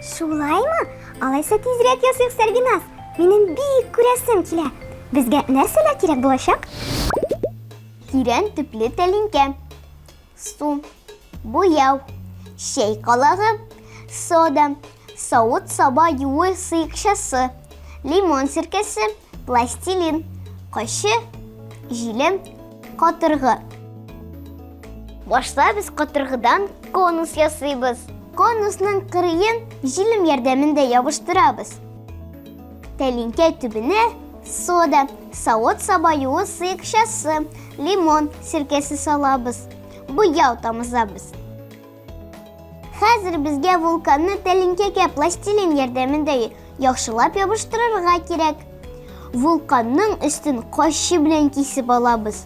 Шулаймы? Алайса тизрәк ясыйк, Сәрбиназ. Минем бик күрәсем килә. Безгә нәрсәләр кирәк булачак? Тирән төпле тәлинкә. Су, буяу, чәй калагы, сода, савыт-саба юуы сыекчасы, лимон сиркәсе, Пластилин. Кочы, җилем, катыргы. Башта без катыргыдан конус ясыйбыз. Конусның кырыен җилем ярдәмендә ябыштырабыз. Тәлинкә төбенә сода, савыт сабаюы сыекчасы, лимон сиркәсе салабыз. Буяу тамызабыз. Хәзер безгә вулканны тәлинкәгә пластилин ярдәмендә яхшылап ябыштырырга кирәк. Вулканның өстен кайчы белән кисеп алабыз.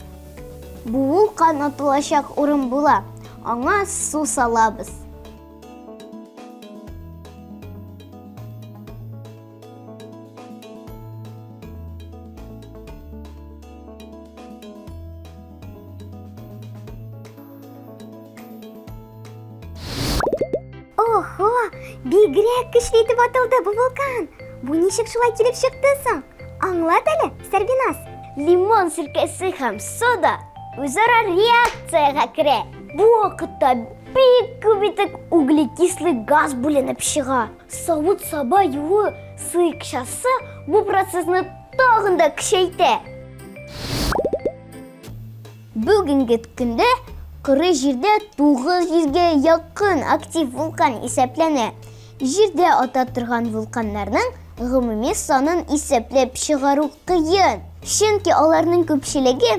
Бу вулкан атылачак урын була. Аңа су салабыз. Охо, бигрәк көчле итеп атылды бу вулкан. Бу ничек шулай килеп чыкты соң? Аңлат әле, Сәрбиназ. Лимон сиркәсе һәм сода үзара реакциягә керә. Бу вакытта бик күп итеп углекислый газ бүленеп чыга. Савыт-саба юу сыекчасы бу процессны тагын да көчәйтә. Бүгенге көндә коры җирдә 900 гә якын актив вулкан исәпләнә. Җирдә ата торган вулканнарның гомуми санын исәпләп чыгару кыен, чөнки аларның күпчелеге